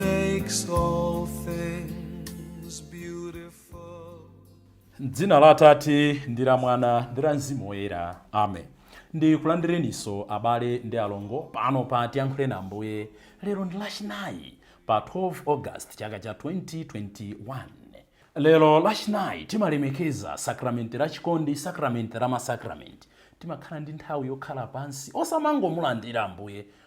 makes all things beautiful. M'dzina la Atate ndi la Mwana ndi la Mzimu Woyera. Amen. Ndikulandireniso abale ndi alongo pano pa Tiyankhule na Ambuye lero ndi Lachinayi pa 12 August chaka cha 2021. Lero Lachinayi timalemekeza sakramenti la chikondi, sakramenti la masakramenti. Timakhala ndi nthawi yokhala pansi osamangomulandira Ambuye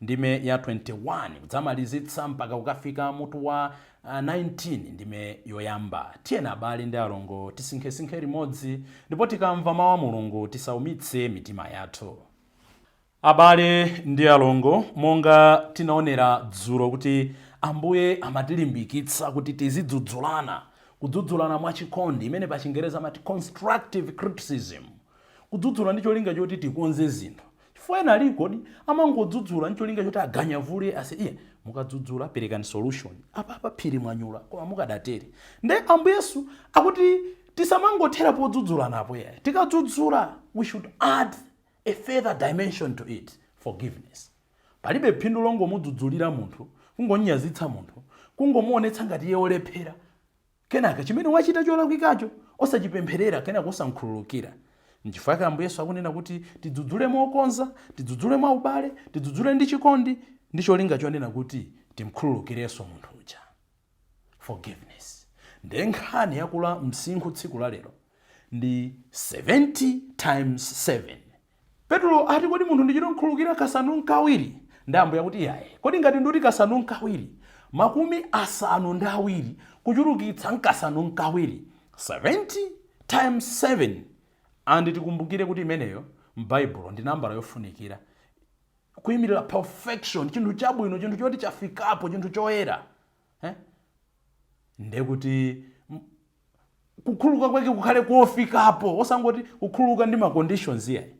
ndime ya 21, kudzamalizitsa mpaka kukafika mutu wa 19, ndime yoyamba. Tiyeni abale ndi alongo tisinkhesinkhe limodzi, ndipo tikamva mawu a Mulungu tisaumitse mitima yathu. Abale ndi alongo, monga tinaonera dzulo kuti Ambuye amatilimbikitsa kuti tizidzudzulana, kudzudzulana mwachikondi, imene pachingerezi amati constructive criticism, kudzudzula ndi cholinga choti tikonze zinthu. Chifukwa ena aliko di amangodzudzula ncholinga choti aganyavule ase iya mukadzudzula perekani solution apapa phiri mwanyula koma mukadatere nde Ambuye Yesu akuti tisamangothera podzudzulanapo iyayi tikadzudzula we should add a further dimension to it forgiveness palibe phindu longomudzudzulira munthu kungomnyazitsa munthu kungomuonetsa ngati iye olephera Kenaka, chimene wachita cholakwikacho, osachipempherera kenaka osamkhululukira. Nchifukwa chake Ambuye Yesu akunena kuti tidzudzule mokonza, tidzudzule mwaubale, tidzudzule ndi chikondi ndi cholinga chonena kuti timkhululukireso munthu uja. Forgiveness. Ndiye nkhani yakula msinkhu tsiku la lero ndi 70 times 7. Petulo ati kodi munthu ndichitomkhululukira kasanu nkawiri? Nde Ambuye akuti iyayi. Kodi ngati nditi kasanu nkawiri, makumi asanu ndi awiri kuchulukitsa nkasanu nkawiri 70 times 7 and tikumbukire kuti imeneyo mbaibulo ndi nambala yofunikira kuimirira perfection, chinthu chabwino, chinthu choti chafikapo, chinthu choyera. Eh? Ndekuti kukhululuka kwake kukhale kofikapo osangoti kukhululuka ndi ma conditions iyayi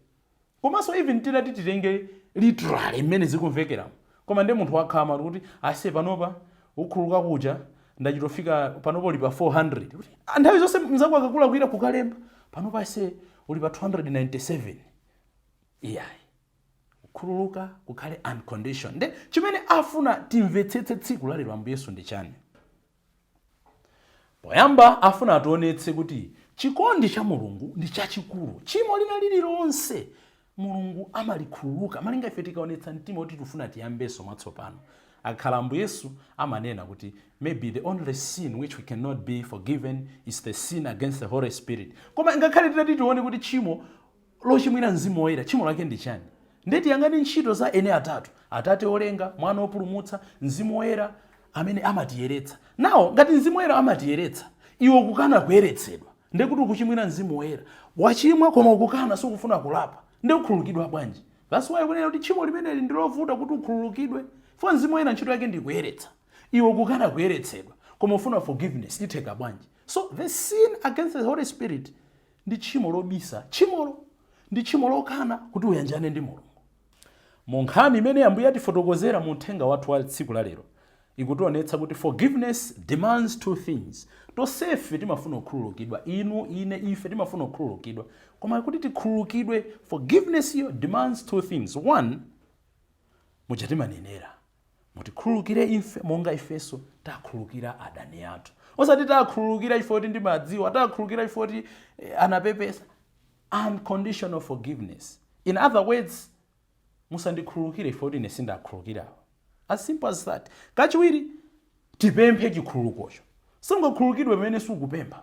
komanso even titati titenge literally mmene zikumvekeramo koma ndi munthu wakhama kuti ase panopa kukhululuka kuja ndachitofika panopa uli pa 400 kuti ah, nthawi zonse mzako akakulakwira kukalemba panopa ase uli pa 297 iyayi kukhululuka kukhale unconditioned nde chimene afuna timvetsetse tsiku lalero ambuye yesu ndi chani Poyamba afuna ationetse kuti chikondi cha Mulungu ndi chachikulu. Tchimo lina lililonse Mulungu amalikhululuka malinga ife tikaonetsa mtima woti tufuna tiyambeso mwatsopano. Akakhala Ambuye Yesu amanena kuti maybe the only sin which we cannot be forgiven is the sin against the Holy Spirit. Koma ngakhale titati tione kuti tchimo lochimwira Mzimu Woyera, tchimo lake ndi chiyani? Ndiye tiyang'ane ntchito za eni atatu, Atate olenga, Mwana opulumutsa, Mzimu Woyera amene amatiyeretsa. Now, ngati Mzimu Woyera amatiyeretsa, iwe ukukana kuyeretsedwa, ndiye kuti ukuchimwira Mzimu Woyera. Wachimwa koma ukukana, sukufuna kulapa, ndiye ukhululukidwa bwanji? That's why kunena kuti tchimo limeneli ndi lovuta kuti ukhululukidwe, chifukwa Mzimu Woyera ntchito yake ndi kuyeretsa. Iwe ukukana kuyeretsedwa, koma ufuna forgiveness, itheka bwanji? So the sin against the Holy Spirit Ndi tchimo lobisa tchimolo. Ndi tchimo lokana kuti uyanjane ndi Mulungu. Mu nkhani imene Ambuye atifotokozera mu uthenga wathu wa tsiku la lero, ikutionetsa kuti forgiveness demands two things. Tonsefe timafuna kukhululukidwa. Inu, ine, ife timafuna kukhululukidwa. Koma kuti tikhululukidwe, forgiveness iyo demands two things. One, muja timanenera, Mutikhululukire ife monga ifenso takhululukira adani athu. Osati takhululukira chifukwa kuti ndimadziwa, takhululukira chifukwa kuti eh, anapepesa. Unconditional forgiveness. In other words, musandikhululukire chifukwa kuti ine sindakhululukirawo. As simple as that. Kachiwiri, tipemphe chikhululukocho. Sungakhululukidwe pamene sukupempha.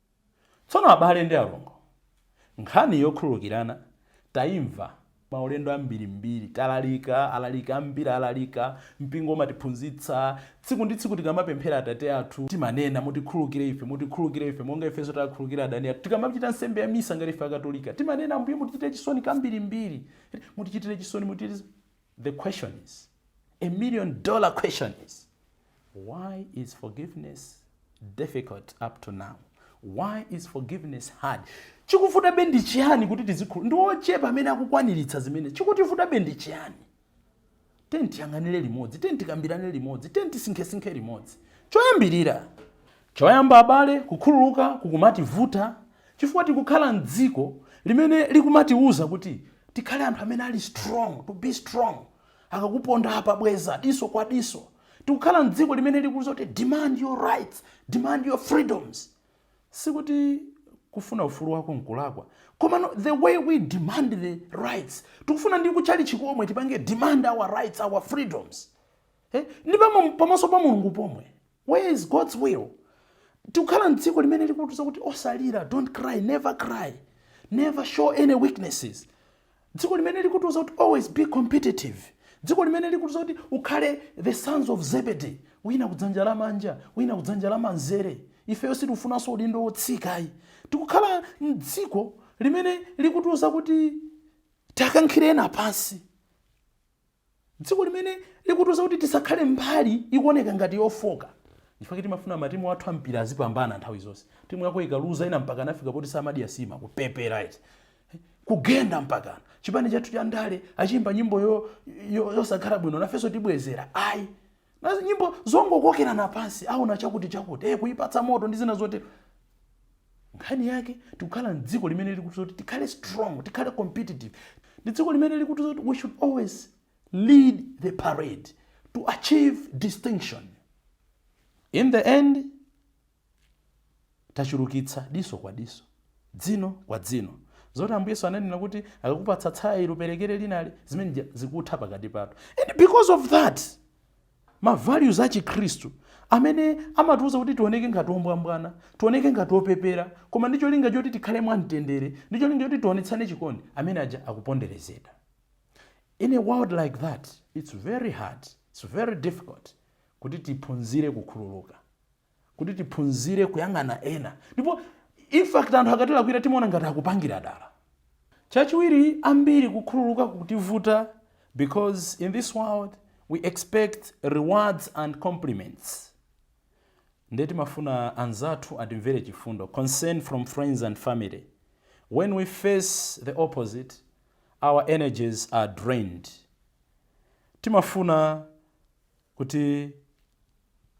Tsono abale ndi alongo, nkhani yokhululukirana taimva maulendo ambirimbiri, talalika, alaliki ambiri alalika, mpingo umatiphunzitsa, tsiku ndi tsiku tikamapemphera Atate Athu timanena, mutikhululukire ife, mutikhululukire ife monga ifenso takhululukira adani athu, tikamachita nsembe ya Misa ngati ife Akatolika timanena, Ambuye mutichitire chisoni kambirimbiri, mutichitire chisoni, mutichitire. The question is, a million dollar question is, why is forgiveness difficult up to now? Why is forgiveness hard? chikuvutabe ndi chiyani kuti tizikhulu ndi ochepa amene akukwaniritsa zimene chikutivutabe ndi chiyani tiyeni tiyang'anire limodzi tiyeni tikambirane limodzi tiyeni tisinkhesinkhe limodzi choyambirira Choyamba abale, kukhululuka kukumativuta chifukwa tikukhala m'dziko limene likumatiuza kuti tikhale anthu amene ali strong, to be strong, akakuponda apa bweza diso kwa diso. Tikukhala m'dziko limene likuuza kuti demand your rights, demand your freedoms. Sikuti kufuna ufulu wako n'kulakwa, komano the way we demand the rights, tikufuna ndi kutchalitchi komwe tipange demand our rights, our freedoms, eh, ndi pamo- pamaso pa Mulungu pomwe. Where is God's will? Tikukhala m'dziko limene likutiuza kuti osalira, don't cry, never cry, never show any weaknesses. Dziko limene likutiuza kuti always be competitive. Dziko limene likutiuza kuti ukhale the sons of Zebedee, wina kudzanja lamanja, wina kudzanja lamanzere. Ifeyo sitikufunanso udindo wotsika ayi. Tikukhala m'dziko limene likutiuza kuti tiakankhire ena pansi. Dziko limene likutiuza kuti tisakhale mbali ikuoneka ngati yofooka chifukwa choti imafuna matimu athu a mpira azipambana nthawi zonse. Timu yako ikaluza ena mpaka anafika poti samadya nsima, kupepera eti. Kugenda mpakana. Chipani chathu cha ndale achiimba nyimbo yosakhala bwino nafenso tibwezera. Ayi. Nazo nyimbo zongokokerana pansi aona chakuti chakuti eh kuipatsa moto ndi zina zotero. Nkhani yake tikukhala m'dziko limene likutiuza kuti tikhale strong, tikhale competitive. Ndi dziko limene likutiuza kuti we should always lead the parade to achieve distinction. In the end, Tachulukitsa diso kwa diso, dzino kwa dzino. Zoti Ambuye Yesu ananena kuti akakupatsa tsaya ili uperekere linali, zimene zija zikutha pakati pathu. And because of that, ma values a Chikhristu amene amatiuza kuti tioneke ngati ombwambwana, tioneke ngati opepera, koma ndi cholinga choti tikhale mwamtendere, ndi cholinga choti tionetsane chikondi, amene aja akuponderezedwa. In a world like that, it's very hard, it's very difficult kuti tiphunzire kukhululuka. kuti tiphunzire kuyang'ana ena ndipo infact anthu akatilakwira timaona ngati akupangira dala chachiwiri ambiri kukhululuka kutivuta because in this world we expect rewards and compliments nde timafuna anzathu atimvere chifundo concern from friends and family when we face the opposite our energies are drained timafuna kuti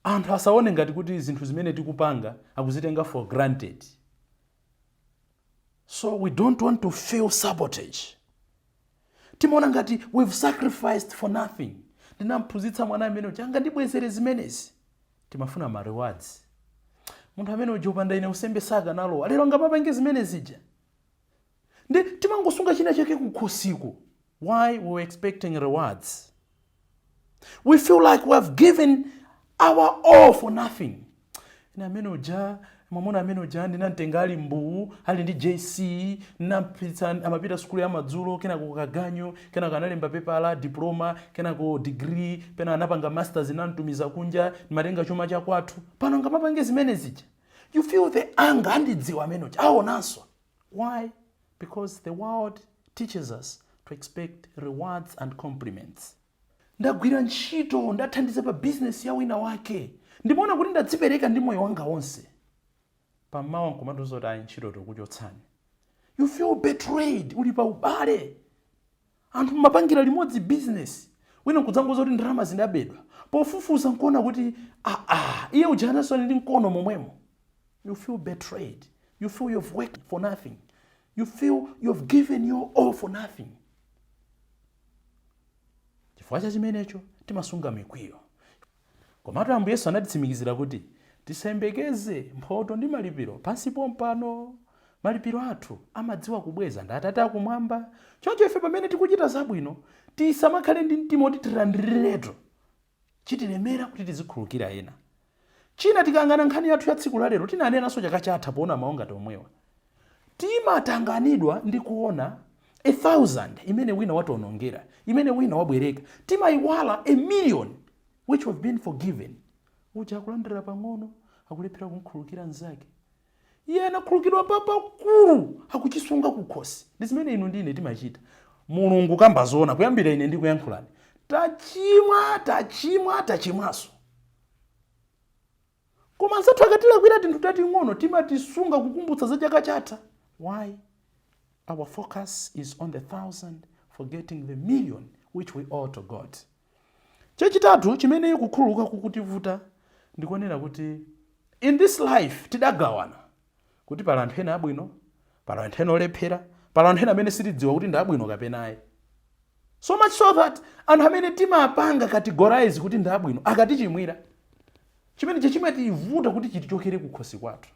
anthu asaone ngati kuti zinthu zimene tikupanga akuzitenga for granted so we don't want to feel sabotage timaona ngati we've sacrificed for nothing ndinamphunzitsa mwana amene uja angandibwezere zimenezi timafuna ma rewards munthu amene uja kupanda ine u MP sakanalowa lero angamapange zimene zija nde timangosunga china chake kukhosiku why we were expecting rewards we feel like we have given our all for nothing ine amene uja mwamuna amene uja ndinamtenga ali mbuwu ali ndi jc ndinampitsa amapita sukulu ya madzulo kenako kaganyu kenako analemba pepala diploma kenako degree pena anapanga masters ndinamtumiza kunja ndimatenga chuma chakwathu pano angamapange zimene zija you feel the anger andidziwa amene uja aonanso Why? Because the world teaches us to expect rewards and compliments. Ndagwira ntchito, ndathandiza pa business ya wina wake. Ndimaona kuti ndadzipereka ndi moyo wanga wonse. Pamawa nkumatiuza kuti ayi ntchito tikukuchotsani. You feel betrayed, uli pa ubale. Anthu mumapangira limodzi business wina nkudzangouza kuti ndalama zinabedwa. Pofufuza nkuona kuti aah iye uja anaso ali ndi mkono momwemo. You feel betrayed, you feel you have worked for nothing, you feel you have given your all for nothing. Chifukwa cha chimenecho timasunga mikwiyo. Komatu Ambuye Yesu anatitsimikizira kuti tisayembekeze mphoto ndi malipiro pansi pompano. Malipiro athu amadziwa kubweza ndi Atate a Kumwamba. Choncho ife pamene tikuchita zabwino, tisamakhale ndi mtima oti tilandiriretu chitilemera kuti tizikhululukira ena. China tikayang'ana nkhani yathu ya tsiku la lero, tinanenanso chaka chatha poona mau ngati omwewa. Timatanganidwa ndi kuona a thousand imene wina wationongera, imene wina wabwereka. Timaiwala a million which we've been forgiven. Uja akulandira pang'ono, akulephera kumkhululukira mzake. Iye anakhululukidwa papakulu, akuchisunga kukhosi. Ndi zimene inu ndi ine timachita. Mulungu. Kukamba zoona, kuyambira ine ndikuyankhulani, tachimwa, tachimwa, tachimwaso. koma anzathu akatilakwira tinthu tating'ono timatisunga kukumbutsa za chaka chatha why our focus is on the thousand forgetting the million which we owe to god chachitatu chimene kukhululuka kukutivuta ndi konena kuti in this life tidagawana kuti pali anthu ena abwino, pali anthu ena olephera, pali anthu ena amene sitidziwa kuti ndi abwino kapena ayi. So much so that anthu amene timapanga categorize kuti ndi abwino akatichimwira chimene cha chimativuta kuti chitichokere kukhosi kwathu.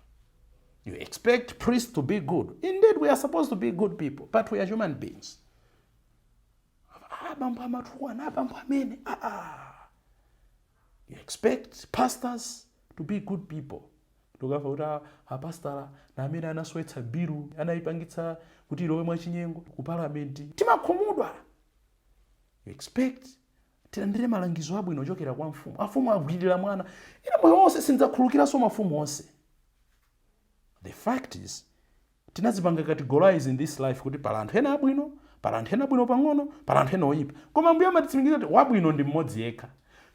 You expect priests to be good. Indeed, we are supposed to be good people, but we are human beings. Ah, bambo amatukwana, ah, bambo amene, ah, ah. you expect pastors to be good people tikamva kuti a- apastala na amene anaswetsa bilu anayipangitsa kuti ilowe mwachinyengo ku palamenti timakhumudwa you expect tilandire malangizo abwino ochokera kwa mfumu afumu agwirira mwana ine moyo wonse sindidzakhululukiranso mafumu onse the fact is Tinazipanga categorize in this life kuti pali anthu ena abwino, pali anthu ena abwino pang'ono, pali anthu ena oyipa. Koma Ambuye amatitsimikiza kuti wabwino ndi mmodzi yekha.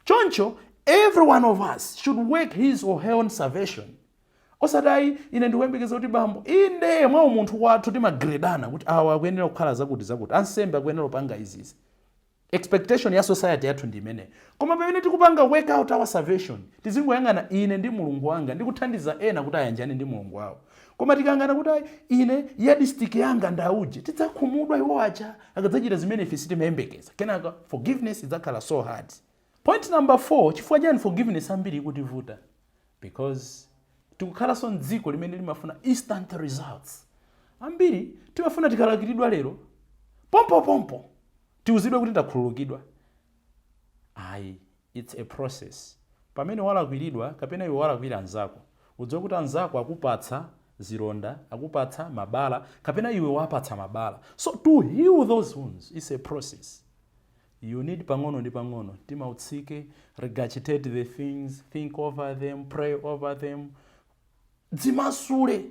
Choncho every one of us should work his or her own salvation. Osati ayi ine ndikuyembekeza kuti bambo, inde mwa umunthu wathu timagredana kuti awa akuyenera kukhala zakuti zakuti, ansembe akuyenera kupanga izi izi. Expectation ya society yathu ndi imeneyo. Koma pamene tikupanga work out our salvation, tizingoyang'ana ine ndi Mulungu wanga ndi kuthandiza ena kuti ayanjane ndi Mulungu wawo. Koma tikayang'ana kuti ayi, ine yardstick yanga ndi auje, tidzakhumudwa iwo aja akadzachita zimene ife sitimayembekeza. Kenaka forgiveness idzakhala so hard. Point number 4, chifukwa chani forgiveness ambiri ikutivuta? Because tikukhalanso mdziko limene limafuna instant results. Ambiri timafuna tikalakwiridwa lero, pompopompo tiuzidwe kuti takhululukidwa. Ayi, it's a process. Pamene walakwiridwa kapena iwe walakwira anzako, udziwe kuti anzako akupatsa zilonda, akupatsa mabala kapena iwe wapatsa mabala. So to heal those wounds, it's a process. You need pang'ono ndi pang'ono mtima utsike regurgitate the things think over them pray over them dzimasule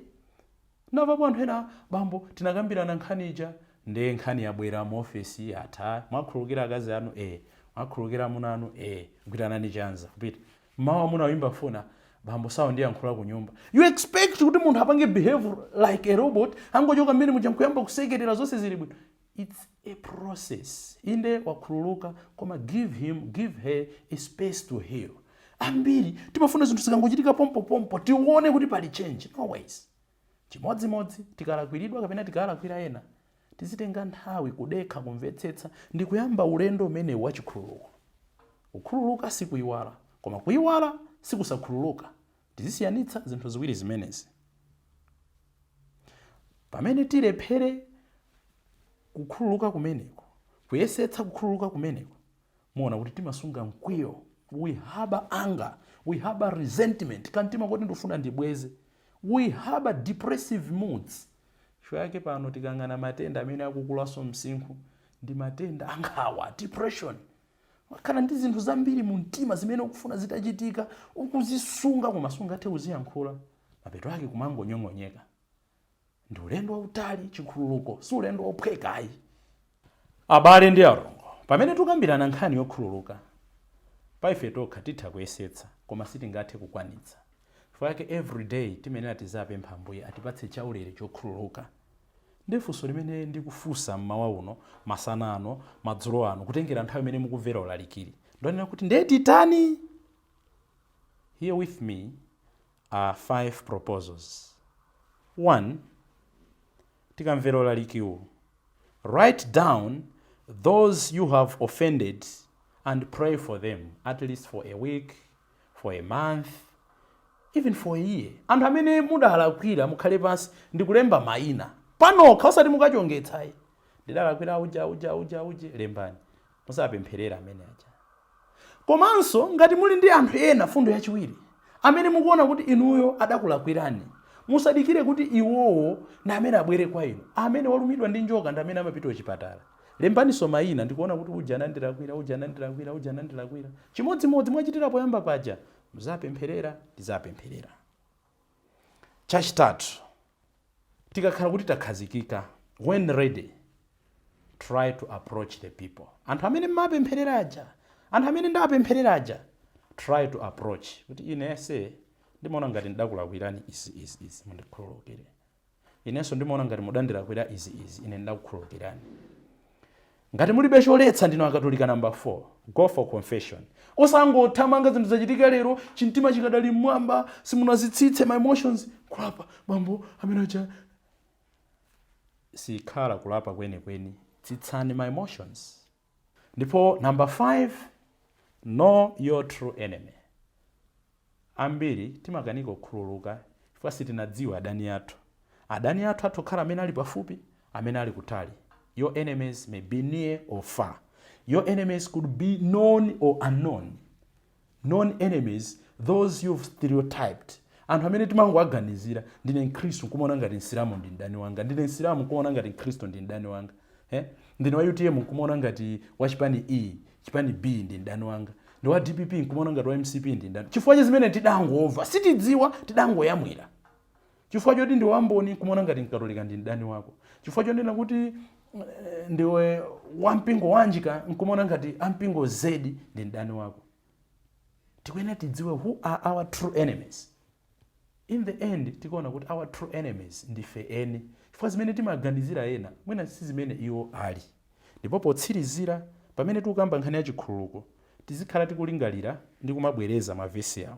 navapo anthu ena bambo tinakambirana nkhani ija nde nkhani yabwera mu ofesi yatha mwakhululukira akazi anu e mwakhululukira amuna anu e gwiranani chanza kupita mmawa amuna oyimba foni bambo sakundiyankhula ku nyumba you expect kuti munthu apange behave like a robot angochoka mmene muja nkuyamba kusekerera zonse zili bwino Its a process inde wakhululuka koma give him give her a space to heal ambiri timafuna zinthu zikangochitika pompo pompo tione kuti pali change no ways chimodzimodzi tikalakwiridwa kapena tikalakwira ena tizitenga nthawi kudekha kumvetsetsa ndi kuyamba ulendo umenewu wachikhululuko kukhululuka sikuiwala koma kuiwala sikusakhululuka Tizisiyanitsa zinthu ziwiri zimenezi. Pamene tilephere kukhululuka kumeneko, kuyesetsa kukhululuka kumeneko, muona kuti timasunga mkwiyo, we harbor anger, we harbor resentment, kamtima koti ndifuna ndibweze, we harbor depressive moods. Chifukwa yake pano tikayang'ana matenda amene akukulanso msinkhu ndi matenda ankhawa, depression. Umakhala ndi zinthu zambiri mu mtima zimene ukufuna zitachitika, ukuzisunga koma sungathe kuziyankhula. Mapeto ake kumangonyong'onyeka. Ndi ulendo wautali chikhululuko, si ulendo wophweka ayi. Abale ndi alongo, pamene tukambirana nkhani yokhululuka, pa ife tokha titha kuyesetsa koma sitingathe kukwanitsa. Chifukwa chake everyday timayenera tiziwapempha Ambuye atipatse chaulere chokhululuka. Ndiye funso limene ndikufunsa m'mawa uno, masana ano, madzulo ano, kutengera nthawi imene mukumvera ulalikiwu, ndonena kuti ndiye titani? Here with me are five proposals, 1 Tikamvera ulalikiwu, write down those you have offended and pray for them at least for a week, for a month even for a year anthu amene mudawalakwira mukhale pansi ndikulemba maina panokha osati mukachongetse ayi ndidalakwira auje auje auje auje lembani muziwapempherera amene aja komanso ngati muli ndi anthu ena fundo yachiwiri amene mukuona kuti inuyo adakulakwirani musadikire kuti iwowo ndi amene abwere kwa inu amene walumidwa ndi njoka ndi amene amapita kuchipatala Lembaniso mayina nkuona kuti uja anandilakwira, uja anandilakwira, uja anandilakwira. Chimodzimodzi mwachitira poyamba paja, muzapempherera, tizapempherera. Chachitatu, tikakhala kuti takhazikika, when ready, try to approach the people. Anthu amene mmapempherera aja, anthu amene ndapempherera aja, try to approach. Kuti ine ase, ndimaona ngati ndidakulakwirani izi, izi, izi, mundikhululukire. Inenso ndimaona ngati mudandilakwira izi izi ine ndidakukhululukirani. Ngati mulibe choletsa ndinu akatolika number 4 go for confession. Osangothamanga zinthu zachitika lero chimtima chikadali mmwamba simunazitsitse ma emotions kulapa bambo amene uja sikhala kulapa kwenikweni tsitsani ma emotions. Ndipo number 5 know your true enemy ambiri timakanika kukhululuka chifukwa sitinadziwa adani athu. Adani athu atha kukhala amene ali pafupi amene ali kutali your enemies may be near or far. Your enemies could be known or unknown. known enemies, those you've stereotyped anthu amene timangowaganizira ndine mkhristu nkumaona ngati msilamu ndi mdani wanga ndine msilamu nkumaona ngati mkhristu ndi mdani wanga eh? ndine wa utm nkumaona ngati wa chipani A chipani B ndi mdani wanga ndine wa dpp nkumaona ngati wa mcp ndi mdani chifukwa cha zimene tidangomva sitidziwa tidangoyamwira Chifukwa choti ndi wa Mboni n'kumaona ngati Mkatolika ndi mdani wako. Chifukwa chonena kuti eh, ndiwe wa mpingo wa X n'kumaona ngati a mpingo Z ndi mdani wako. Tikuyenera tidziwe who are our true enemies. In the end tikuona kuti our true enemies ndife eni. Chifukwa zimene timaganizira ena mwina si zimene iwo ali. Ndipo potsirizira pamene tikukamba nkhani ya chikhululuko tizikhala tikulingalira ndi kumabwereza mavesi awa.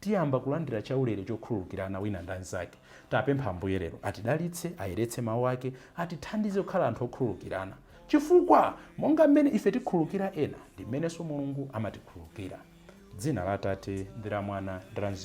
Tiyamba kulandira chaulere chokhululukirana wina ndi mnzake. Tapempha Ambuye lero atidalitse, ayeretse Mau Ake, atithandize kukhala anthu okhululukirana. Chifukwa monga mmene ife tikhululukira ena, ndi mmenenso Mulungu amatikhululukira. Dzina la Atate, ndi la Mwana, ndi la Mzimu.